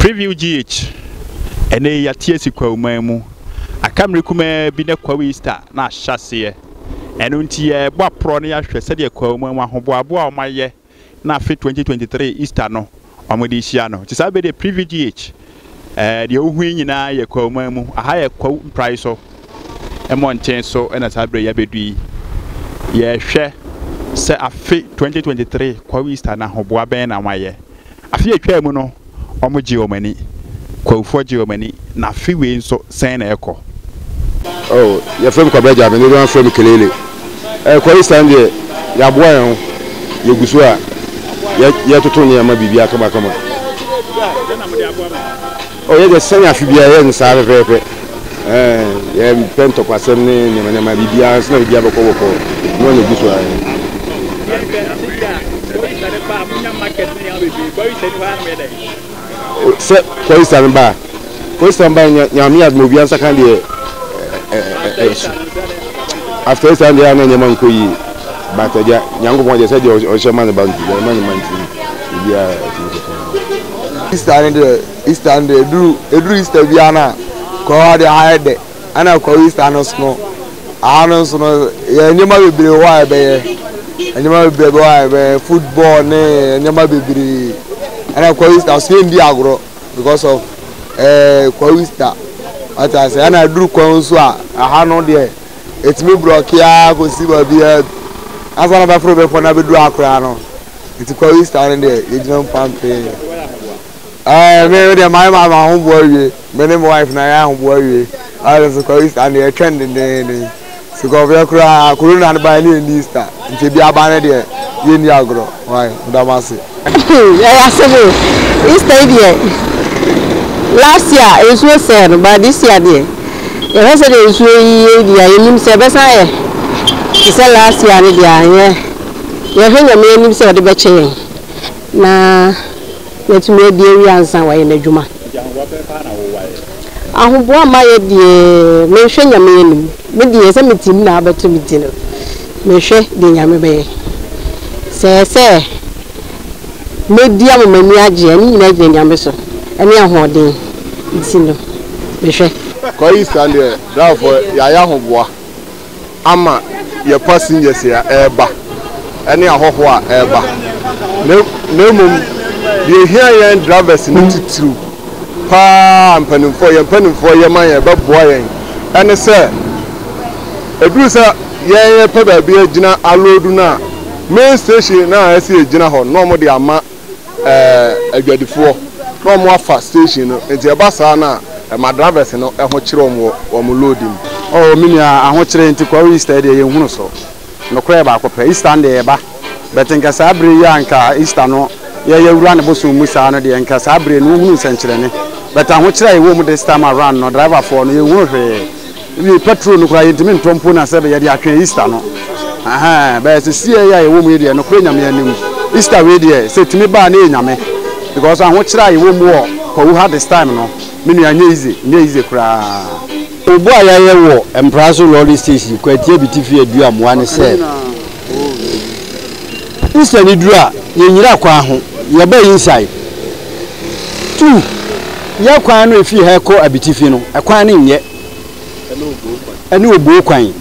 Preview GH, Ɛnnɛ yi yɛate asi Kwawu-man mu. Aka mmere kumaa bi na Kwawu Easter no ahyɛ aseɛ. Ɛno nti yɛrebɔ aporɔ na yɛahwɛ sɛdeɛ Kwawu-man mu ahoboaboa a wɔayɛ na afe 2023 Easter no wɔde rehyia no. Nti saa bere deɛ Preview GH, ɛɛ deɛ wohu yi nyinaa yɛ Kwawu-man mu. Aha yɛ Kwawu mprae so mmɔnten so na saa bere yi abɛdu yi. Yɛrehwɛ sɛ afe 2023 Kwawu Easter no ahoboa bɛn na wɔayɛ. Afe a etwaa mu no, wɔgyee wɔn ani. Kwawufo gyee wɔn ani, na afe wei nso sɛn na ɛrekɔ? Oh, yɛfrɛ me Kwabena Gyameh, dodow no ara frɛ me Kelele. Ɛrekɔ Easter no deɛ, yɛaboa yɛn ho, yɛgu so a yɛretoto nneɛma biribiara kamakama. Dɛn na mode aboa mo ho? Ɔyɛ dɛ sɛnea afe biara yɛyɛ no saa ara pɛpɛɛpɛ. Yɛmpɛ ntɔkwasɛm ne nneɛma nneɛma, biribiara nso na biribiara bɔkɔɔ bɔkɔɔ, noa na egu so ara. Sɛ Kɔyisa no ba a, Kɔyisa no ba no nya Nyame adom a obiara nsa ka deɛ ɛso. After Easter no deɛ na nneɛma nkɔ yie, but agya Nyankopɔn deɛ sɛdeɛ ɔhyɛ ma ne ba nti, deɛ ɔma ne ma nti no, biribiara atumi kɔ so. easter no deɛ easter no deɛ eduru eduru easter biara no a kɔɔ ha deɛ ha yɛ dɛ ɛna kɔɔ easter no so no aha no nso no yɛ nneɛma bebree wɔ a yɛbɛyɛ nneɛma bebree wɔ a yɛbɛyɛ football ne nneɛma bebree ɛna kɔɔ easter so yɛndi agorɔ because of ɛɛ eh, kɔɔ easter ɔte ase ɛna eduru kɔɔ nso a aha no deɛ etumi brɔke ara kɔsi baabi a asa na bɛforo bɛfɔ na bɛduru akora no nti kɔ easter no deɛ yɛgyina mu pampee ɛɛ me deɛ mayɛ ma ma ho boa wie me ne me wife na yɛ ho boa wie ayɛ nso kɔ easter no deɛ ɛtwɛn dendeenden nti kɔ ɔbɛyɛ koraa corona no ban ne yɛn ni easter nti ebi aba no deɛ yɛn ni agorɔ wae ɔdam ase. ɛyɛ asɛm o easter yi deɛ last year nsuo sɛɛ no but this year deɛ yɛhwɛ sɛ deɛ nsuo yi yɛ deɛ yɛnim sɛ ɛbɛsan yɛ te sɛ last year no deɛ anyɛ. Yɛhwɛ Nyame anim sɛ ɔde bɛkyɛ yɛn na yɛatumi adi awie ansa na wayɛ n'adwuma. Ahoboa ma yɛ deɛ mehwɛ Nyame anim. Me deɛ sɛ me ti mu na abɛto me ti no, mehwɛ deɛ Nyame bɛyɛ. Sɛ ɛyɛ sɛ mɛdi ama m'ani agye a, ne nyinaa gyina Nyame so ne ahoɔden nti no, mehwɛ. Kɔ Eastern deɛ, drivefoɔ yɛayɛ ahoboa. ama yɛn kwa seniors a ɛreba ne ahɔhoɔ a ɛreba na na mmom deɛ ɛhia yɛn drivers no titiriw pa ara mpanimfoɔ yɛn mpanimfoɔ yɛ ma yɛn ɛbɛboa yɛn ɛne sɛ ɛduru sɛ yɛn yɛpɛ baabi agyina aloodu no a main station no a ɛsɛ yɛgyina hɔ no na wɔde ama ɛɛ adwadifoɔ na wɔn afa station no nti ɛba saa no a ɛma drivers no ho kyerɛ wɔn wɔ wɔn load mu. Oh me nua ahokyere nti Kwaru Easter deɛ yɛn hunu so nokorɛ baako pɛ Easter no deɛ yɛba but nka saa bere yi a nka Easter no yɛ yɛ wura ne bosom mu saa no deɛ nka saa bere no wo hunu nsɛnkyerɛnne but ahokyere a yɛwɔ mu this time around no driverfoɔ no yɛn hunu hwee. Wiei, petrol no koraa yentumi ntɔ mpo na sɛbe yɛde atwɛn Easter no. Ahaa, bɛɛ sesiei a yɛwɔ mu yi deɛ, nokorɛ Nyame anim, Easter wei deɛ, sɛ ɛtumi ba a na ɛyɛ Nyame. Because ahokyerɛ a yɛwɔ mu wɔ Kwawu ha this time no, me nua, ɛnyɛ easy, ɛnyɛ easy koraa. Obu a yɛayɛ wɔ Mpraso lorry station Kwati Abitifi adu amoa ne sɛ, Easter no duru a, yɛnyira kwan ho, yɛba inside. Two, yɛn kwan no a ɛfiri ha kɔ Abitifi no, ɛkwan no nyɛ. ɛne obuo kwan.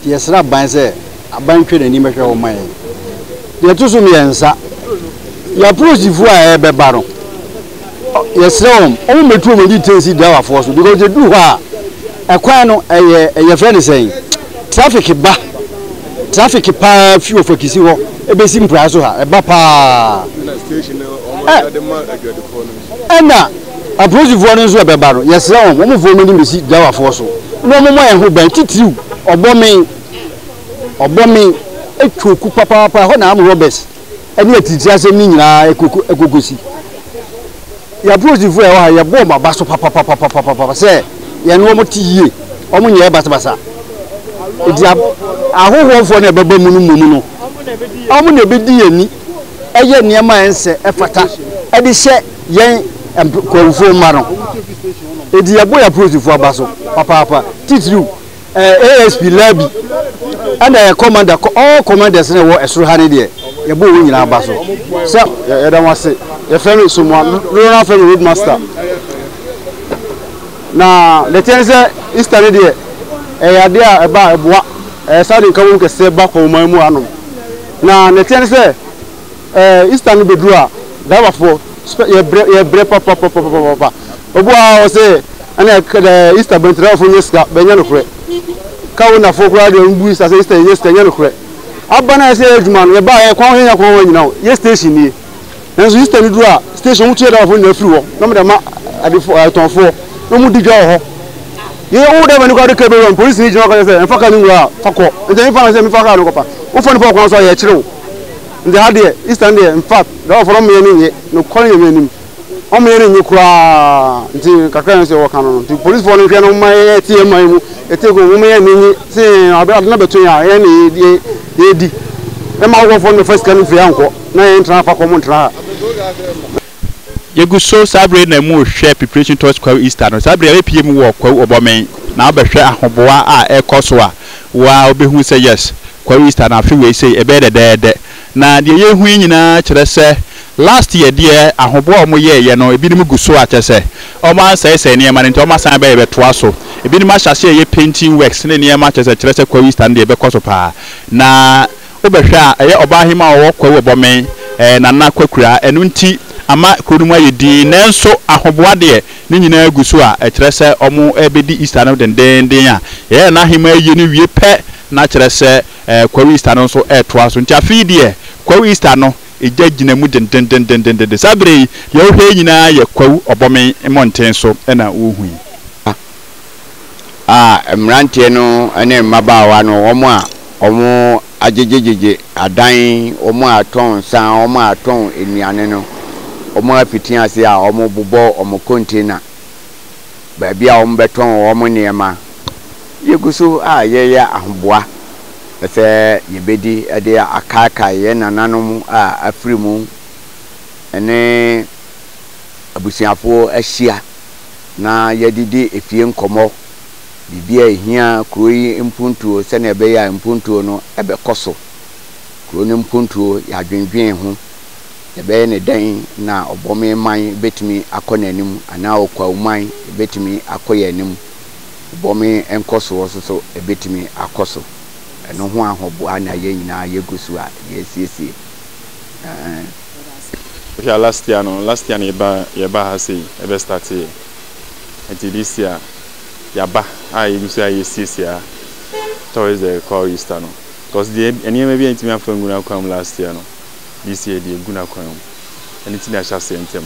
Nti yɛsrɛ aban sɛ aban ntwa n'ani mmɛhwɛ hɔ mma yɛn. Deɛ ɛto so mmiɛnsa, yɛn apolisifoɔ a ɛrebɛba no, yɛsrɛ wɔn, wɔn mmɛtu wɔn ani tensi driverfoɔ so because ɛduru hɔ a, ɛkwan no ɛyɛ yɛfrɛ no sɛn, traffic ba, traffic paa fi wɔ fakisi hɔ ɛbɛsi mpraa so ha, ɛba paa. Ɛna apolisifoɔ no nso a bɛba no, yɛsrɛ wɔn, wɔn mfa wɔn anim bɛsi driverfoɔ so na wɔn mmɔ yɛn ho ban, titiriw ɔbɔ me, ɔbɔ me, ɛtwa oku papaapa, ɛhɔ na armed robbers ne atiritiri asɛm no nyinaa ɛkɔkɔsi. Yɛn apolisifoɔ a ɛwɔ ha, yɛbɔ wɔn aba so papapapapapapa sɛ yɛne wɔn te yie, wɔn nyɛɛ basabasa. Nti ahohoɔfoɔ no a ɛbɛba mu no mmom no, wɔn na ɛbɛdi yɛn ni yɛ nneɛma a ɛnsɛ ɛfata de hyɛ yɛn nkurɔfoɔ mma no ɛti yɛbɔ yɛ apolisifoɔ aba so papaapa titiriw asp labi ɛna yɛ commander all commanders na ɛwɔ ɛsoro ha ne deɛ yɛbɔ wɔn nyinaa aba so sɛ yɛda mo ase yɛfrɛ me somoa rural family roadmaster Na deteɛ ne sɛ Easter no deɛ ɛyɛ adeɛ a ɛba a ɛboa ɛɛ saa de nka wom kɛseɛ ba kɔnman mu anom. Na deteɛ ne sɛ ɛɛ Easter no bɛduru a driver foɔ spɛ yɛ brɛ yɛ brɛ papapapapapa obi wɔ ha a ɔsɛ ɛna ɛka ɛɛ Easter bɛnti driver foɔ nyɛ sika bɛnyɛ no korɛ ka wo nafoɔ koraa deɛ ɔmbu Easter sɛ Easter yɛ nyɛ sika nyɛ no korɛ aba na yɛ sɛ yɛ adwuma no yɛ ba yɛ kɔn yɛ nya kɔn wɔ nyina o yɛ station nie. Nanso Easter no du a, station no tu yɛ driverfoɔ nyinaa firi hɔ na wɔde ama adefoɔ, atɔnfoɔ na wɔdi dwa wɔ hɔ. Yɛ wo driver no koraa de car bɛwura mu, polisini gyina hɔ ka kyerɛ sɛ mfa car no nwura a, fa kɔ. Nti ɛmfa ho sɛ mefa car no kɔfa, wofa nipa wɔ kwan so a, yɛkyere wo. Nti ha deɛ, Easter no deɛ, infact, driverfoɔ no wɔn yɛ no nyɛ, nokware Nyame anim, wɔn yɛ no nyɛ koraa. Nti kakra a nso wɔka no no, nti polisfoɔ no nhwɛ no mma yɛte yɛn man mu, yɛte kɔn mu, mma yɛn ani nnye sɛ ade no abɛto yɛn a, yɛn na yɛredi, mma awofɔfoɔ no mmɛfa sika no mfiri ha nkɔ. Na yɛn tra fa kɔm ntra ha. Yɛgu so saa bere yi na mu rehwɛ preparation towards Kwawu Easter no. Saa bere yi yɛbɛpue mu wɔ Kwawu Ɔbɔmen na wabɛhwɛ ahoboa a ɛrekɔ so a, wo ara wobɛhu sɛ yes, Kwawu Easter no afe wei sei ɛbɛyɛ dɛdɛɛdɛ. Na deɛ yɛrehu yi nyinaa kyerɛ sɛ last year deɛ ahoboa a wɔyɛeɛ no ebinom gu so a kyerɛ sɛ wɔansɛesɛe nneɛma no nti wɔasan bɛyɛ bɛtoa so. Ebinom ahyɛ aseɛ reyɛ painting works ne nneɛma kyerɛ sɛ kyerɛ sɛ Kwawu Easter no deɛ ɛbɛkɔ so paa na Wobɛhwɛ a, ɛyɛ ɔbaahemaa a ɔwɔ Kwawu Ɔbɔmen, ɛɛ, Nana Kwakura. Ɛno nti, ama kuro no mu ayɛ dinn. Nanso, ahoboa deɛ, ne nyinaa gu so a ɛkyerɛ sɛ wɔrebɛdi Easter no dendeenden a yɛyɛ Nana Ahemaa ayie no wie pɛ, na kyerɛ sɛ, ɛɛ, Kwawu Easter no nso retoa so. Nti, afei deɛ, Kwawu Easter no, egya gyina mu dendendendendendendenn. Saa berɛ yi, deɛ wohwɛ nyinaa yɛ Kwawu Ɔbɔmen mmɔnten so na wohu yi. a mmeranteɛ no ne mmabaawa no, wɔn a wɔagyegyegyegye adan, wɔn a wɔtɔn nsa, wɔn a wɔtɔn nnuane no, wɔafiti ase a wɔrebobɔ wɔn container, baabi a wɔbɛtɔn wɔn nneɛma. Yɛgu so a yɛreyɛ ahoboa sɛ yɛbɛdi de akaakae yɛn nananom a afiri mu ne abusuafoɔ ahyia. na yɛdidi efie nkɔmmɔ, biribi a ehia kuro yi mpuntuo sɛnea ɛbɛyɛ a mpuntuo no bɛkɔ so. Kuro no mpuntuo, yɛadwendwen ho, yɛbɛyɛ no dɛn na Ɔbɔme man bɛtumi akɔ n'anim anaa Ɔkwawu man bɛtumi akɔ yɛn anim. Ɔbɔme nkɔsoɔ nso so bɛtumi akɔ so. Ɛno ho ahoboa na yɛn nyinaa yɛgu so a yɛresiesie. Ɛɛ. Yɛda ase. Wohwɛ a last year no last year na yɛba yɛba ha sei ɛbɛ start yɛ nti this year yaba a yɛgu so a yɛsiesie a towards the call Easter no because deɛ nneɛma bi a ntumi afa ngu n'akwan mu last year no this year deɛ gu n'akwan mu ɛne ti na ahyɛ aseɛ ntɛm.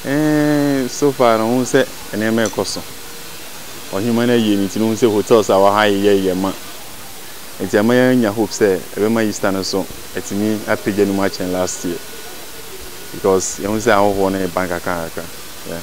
Eh, so far no ho sɛ nneɛma ɛkɔ so ɔhema no ayie no nti no ho sɛ hotels a wɔha yɛyɛ yɛ ma Nti ɛma yɛnya hope sɛ ɛbɛma Easter no nso atumi apagya ne mu akyɛn last year because yɛhu sɛ ahɔhoɔ no reba nkakrankakra. Yeah.